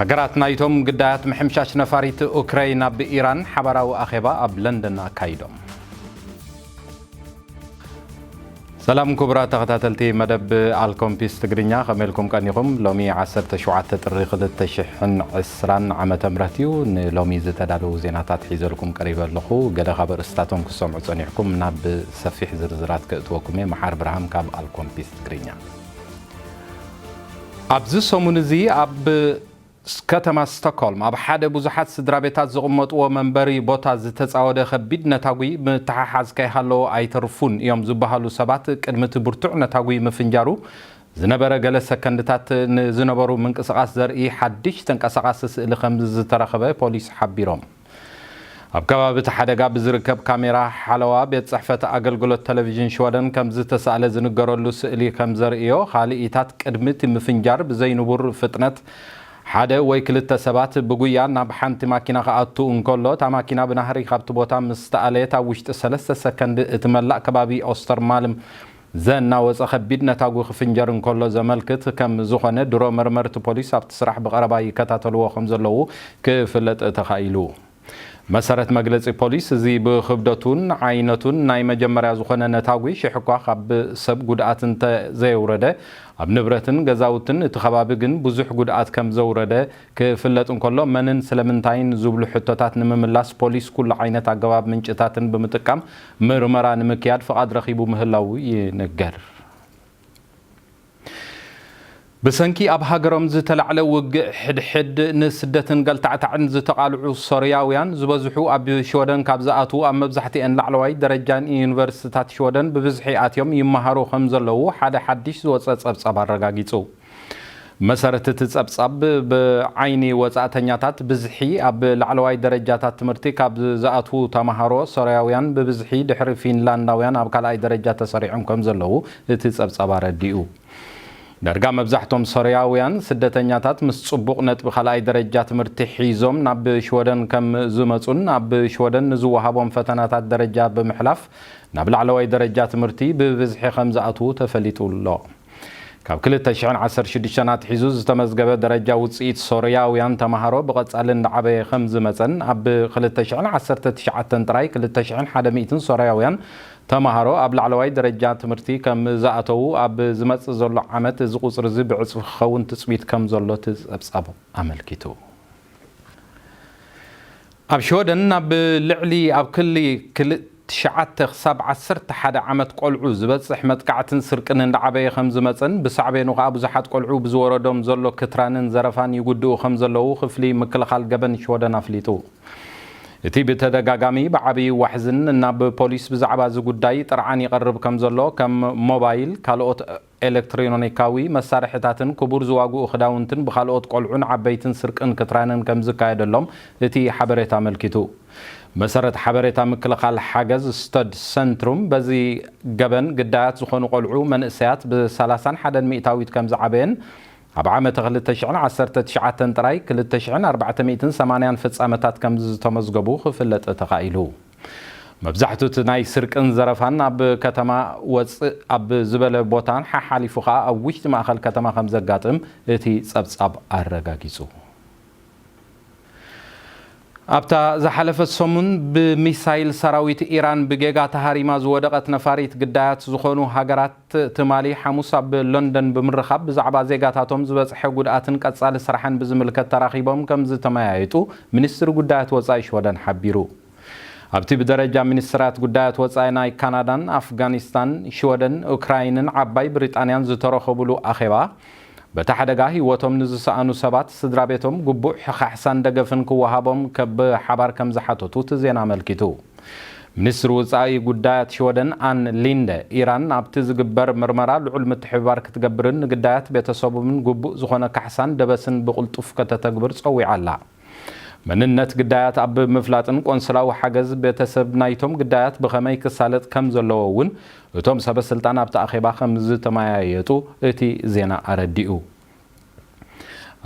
ሃገራት ናይቶም ግዳያት ምሕምሻሽ ነፋሪት ኡክረይን ኣብ ኢራን ሓባራዊ ኣኼባ ኣብ ለንደን ኣካይዶም። ሰላም ክቡራት ተኸታተልቲ መደብ ኣልኮምፒስ ትግርኛ ከመይ ኢልኩም ቀኒኹም? ሎሚ ዓሰርተ ሸውዓተ ጥሪ ክልተ ሽሕን ዕስራን ዓመተ ምህረት እዩ። ንሎሚ ዝተዳለዉ ዜናታት ሒዘልኩም ቀሪበ ኣለኹ። ገለ ካብ ኣርእስታቶም ክትሰምዑ ጸኒሕኩም ናብ ሰፊሕ ዝርዝራት ከእትወኩም እየ። መሓር ብርሃም ካብ ኣልኮምፒስ ትግርኛ። ኣብዚ ሰሙን እዚ ኣብ ከተማ ስቶክሆልም ኣብ ሓደ ብዙሓት ስድራቤታት ዝቕመጥዎ መንበሪ ቦታ ዝተጻወደ ከቢድ ነታጒ ምትሓሓዝ ከይሃለዎ ኣይተርፉን እዮም ዝበሃሉ ሰባት ቅድሚ እቲ ብርቱዕ ነታጒ ምፍንጃሩ ዝነበረ ገለ ሰከንድታት ንዝነበሩ ምንቅስቓስ ዘርኢ ሓድሽ ተንቀሳቓሲ ስእሊ ከም ዝተረኸበ ፖሊስ ሓቢሮም። ኣብ ከባቢ እቲ ሓደጋ ብዝርከብ ካሜራ ሓለዋ ቤት ጽሕፈት ኣገልግሎት ተለቪዥን ሽወደን ከምዝተሳእለ ዝንገረሉ ስእሊ ከምዘርእዮ፣ ካልኢታት ቅድሚ እቲ ምፍንጃር ብዘይንቡር ፍጥነት ሓደ ወይ ክልተ ሰባት ብጉያ ናብ ሓንቲ ማኪና ክኣቱ እንከሎ፣ እታ ማኪና ብናህሪ ካብቲ ቦታ ምስ ተኣለየት ኣብ ውሽጢ ሰለስተ ሰከንድ እቲ መላእ ከባቢ ኦስተርማልም ዘናወጸ ከቢድ ነታጒ ክፍንጀር እንከሎ ዘመልክት ከም ዝኾነ ድሮ መርመርቲ ፖሊስ ኣብቲ ስራሕ ብቐረባ ይከታተልዎ ከም ዘለዉ ክፍለጥ ተኻኢሉ። መሰረት መግለጺ ፖሊስ እዚ ብክብደቱን ዓይነቱን ናይ መጀመርያ ዝኾነ ነታጒ ሽሕኳ ካብ ሰብ ጉድኣት እንተ ዘየውረደ ኣብ ንብረትን ገዛውትን እቲ ከባቢ ግን ብዙሕ ጉድኣት ከም ዘውረደ ክፍለጥ እንከሎ፣ መንን ስለምንታይን ዝብሉ ሕቶታት ንምምላስ ፖሊስ ኩሉ ዓይነት ኣገባብ ምንጭታትን ብምጥቃም ምርመራ ንምክያድ ፍቓድ ረኺቡ ምህላዉ ይንገር። ብሰንኪ ኣብ ሃገሮም ዝተላዕለ ውግእ ሕድሕድ ንስደትን ገልታዕታዕን ዝተቓልዑ ሶርያውያን ዝበዝሑ ኣብ ሽወደን ካብ ዝኣትዉ ኣብ መብዛሕትኤን ላዕለዋይ ደረጃ ዩኒቨርሲቲታት ሽወደን ብብዝሒ ኣትዮም ይመሃሩ ከምዘለዉ ሓደ ሓድሽ ዝወጸ ጸብጻብ ኣረጋጊጹ። ብመሰረት እቲ ፀብፃብ፣ ብዓይኒ ወፃእተኛታት ብዝሒ ኣብ ላዕለዋይ ደረጃታት ትምህርቲ ካብ ዝኣትዉ ተምሃሮ ሶርያውያን ብብዝሒ ድሕሪ ፊንላንዳውያን ኣብ ካልኣይ ደረጃ ተሰሪዖም ከምዘለዉ እቲ ፀብፃብ ኣረዲኡ። ዳርጋ መብዛሕቶም ሶርያውያን ስደተኛታት ምስ ፅቡቕ ነጥቢ ካልኣይ ደረጃ ትምህርቲ ሒዞም ናብ ሽወደን ከም ዝመፁን ኣብ ሽወደን ንዝወሃቦም ፈተናታት ደረጃ ብምሕላፍ ናብ ላዕለዋይ ደረጃ ትምህርቲ ብብዝሒ ከምዝኣትዉ ተፈሊጡ ኣሎ። ካብ ክልተ ሽሕን ዓሰርተ ሽዱሽተን ኣትሒዙ ዝተመዝገበ ደረጃ ውጽኢት ሶርያውያን ተማሃሮ ብቐጻሊ እንዳዓበየ ከምዝመጸን ኣብ ክልተ ሽሕን ዓሰርተ ትሽዓተን ጥራይ ክልተ ሽሕን ሓደ ሚእትን ሶርያውያን ተማሃሮ ኣብ ላዕለዋይ ደረጃ ትምህርቲ ከምዝኣተዉ ኣብ ዝመጽእ ዘሎ ዓመት እዚ ቁጽሪ'ዚ ብዕጽፊ ክኸውን ትጽቢት ከምዘሎ እቲ ጸብጻቡ ኣመልኪቱ። ኣብ ሽወደን ኣብ ልዕሊ ኣብ ክሊ ክል ትሽዓተ ክሳብ ዓሰርተ ሓደ ዓመት ቆልዑ ዝበጽሕ መጥቃዕትን ስርቅን እንዳዓበየ ከምዝመጸን ብሳዕቤኑ ከኣ ብዙሓት ቆልዑ ብዝወረዶም ዘሎ ክትራንን ዘረፋን ይጉድኡ ከምዘለዉ ክፍሊ ምክልኻል ገበን ሽወደን ኣፍሊጡ። እቲ ብተደጋጋሚ ብዓብይ ዋሕዝን ናብ ፖሊስ ብዛዕባ እዚ ጉዳይ ጥርዓን ይቐርብ ከምዘሎ ከም ሞባይል ካልኦት ኤለክትሪኖኒካዊ መሳርሒታትን ክቡር ዝዋግኡ ክዳውንትን ብካልኦት ቆልዑን ዓበይትን ስርቅን ክትራንን ከምዝካየደሎም እቲ ሓበሬታ ኣመልኪቱ። ብመሰረት ሓበሬታ ምክልኻል ሓገዝ ስተድ ሰንትሩም በዚ ገበን ግዳያት ዝኾኑ ቆልዑ መንእሰያት ብ ሰላሳን ሓደን ሚእታዊት ከምዝዓበየን ኣብ ዓመተ ክልተ ሽሕን ዓሰርተ ትሽዓተን ጥራይ ክልተ ሽሕን ኣርባዕተ ሚእትን ሰማንያን ፍጻመታት ከምዝዝተመዝገቡ ክፍለጥ ተኻኢሉ። መብዛሕቱ እቲ ናይ ስርቅን ዘረፋን ኣብ ከተማ ወጽእ ኣብ ዝበለ ቦታን ሓሓሊፉ ከኣ ኣብ ውሽጢ ማእኸል ከተማ ከምዘጋጥም እቲ ጸብጻብ ኣረጋጊጹ። ኣብታ ዝሓለፈት ሰሙን ብሚሳይል ሰራዊት ኢራን ብጌጋ ተሃሪማ ዝወደቐት ነፋሪት ግዳያት ዝኾኑ ሃገራት፣ ትማሊ ሓሙስ ኣብ ለንደን ብምርኻብ ብዛዕባ ዜጋታቶም ዝበፅሐ ጉድኣትን ቀፃሊ ስራሕን ብዝምልከት ተራኺቦም ከምዝተመያየጡ ሚኒስትሪ ጉዳያት ወፃኢ ሽወደን ሓቢሩ። ኣብቲ ብደረጃ ሚኒስትራት ጉዳያት ወፃኢ ናይ ካናዳን፣ ኣፍጋኒስታን፣ ሽወደን፣ ኡክራይንን ዓባይ ብሪጣንያን ዝተረኸቡሉ ኣኼባ፣ በቲ ሓደጋ ህይወቶም ንዝሰኣኑ ሰባት ስድራቤቶም ግቡእ ሕኻሕሳን ደገፍን ክወሃቦም ከብ ሓባር ከም ዝሓተቱ እቲ ዜና ኣመልኪቱ። ሚኒስትሪ ውጻኢ ጉዳያት ሽወደን ኣን ሊንደ፣ ኢራን ኣብቲ ዝግበር ምርመራ ልዑል ምትሕብባር ክትገብርን ንግዳያት ቤተሰቦምን ግቡእ ዝኾነ ካሕሳን ደበስን ብቕልጡፍ ከተተግብር ጸዊዓ ኣላ። መንነት ግዳያት ኣብ ምፍላጥን ቆንስላዊ ሓገዝ ቤተሰብ ናይቶም ግዳያት ብኸመይ ክሳለጥ ከም ዘለዎ እውን እቶም ሰበስልጣን ኣብቲ ኣኼባ ከም ዝተመያየጡ እቲ ዜና ኣረዲኡ።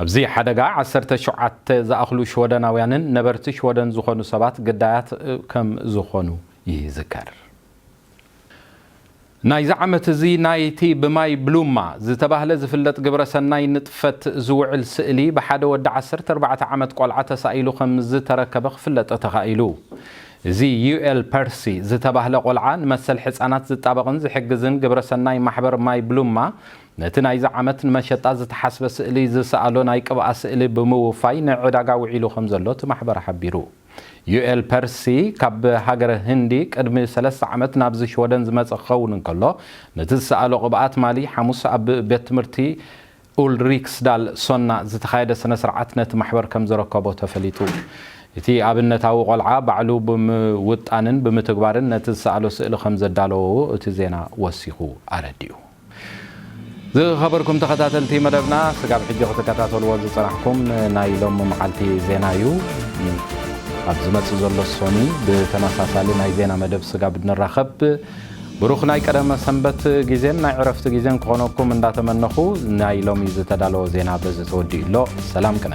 ኣብዚ ሓደጋ ዓሰርተ ሸውዓተ ዝኣኽሉ ሽወደናውያንን ነበርቲ ሽወደን ዝኾኑ ሰባት ግዳያት ከም ዝኾኑ ይዝከር። ናይዚ ዓመት እዚ ናይቲ ብማይ ብሉማ ዝተባህለ ዝፍለጥ ግብረ ሰናይ ንጥፈት ዝውዕል ስእሊ ብሓደ ወዲ ዓሰርተ ኣርባዕተ ዓመት ቆልዓ ተሳኢሉ ከምዝተረከበ ክፍለጠ ተኻኢሉ። እዚ ዩኤል ፐርሲ ዝተባህለ ቆልዓ ንመሰል ሕጻናት ዝጣበቕን ዝሕግዝን ግብረ ሰናይ ማሕበር ማይ ብሉማ ነቲ ናይዚ ዓመት ንመሸጣ ዝተሓስበ ስእሊ ዝሰኣሎ ናይ ቅብኣ ስእሊ ብምውፋይ ንዕዳጋ ውዒሉ ከምዘሎ እቲ ማሕበር ሓቢሩ። ዩኤል ፐርሲ ካብ ሃገረ ህንዲ ቅድሚ ሰለስተ ዓመት ናብዚ ሽወደን ዝመጸ ክኸውን እንከሎ፣ ነቲ ዝሰኣሎ ቅብኣት ማሊ ሓሙስ ኣብ ቤት ትምህርቲ ኡልሪክስዳል ሶና ዝተኻየደ ስነ-ስርዓት ነቲ ማሕበር ከም ዘረከቦ ተፈሊጡ። እቲ ኣብነታዊ ቆልዓ ባዕሉ ብምውጣንን ብምትግባርን ነቲ ዝሰኣሎ ስእሊ ከም ዘዳለዎ እቲ ዜና ወሲኹ ኣረዲኡ። ዝኸበርኩም ተኸታተልቲ መደብና ስጋብ ሕጂ ክትከታተልዎ ዝጸናሕኩም ናይ ሎሚ መዓልቲ ዜና እዩ። ኣብ ዝመጽእ ዘሎ ሶኒ ብተመሳሳሊ ናይ ዜና መደብ ስጋብ ንራኸብ ብሩኽ ናይ ቀደመ ሰንበት ግዜን ናይ ዕረፍቲ ግዜን ክኾነኩም እንዳተመነኹ ናይ ሎሚ ዝተዳለወ ዜና በዚ ተወዲኡ ኣሎ። ሰላም ቅነ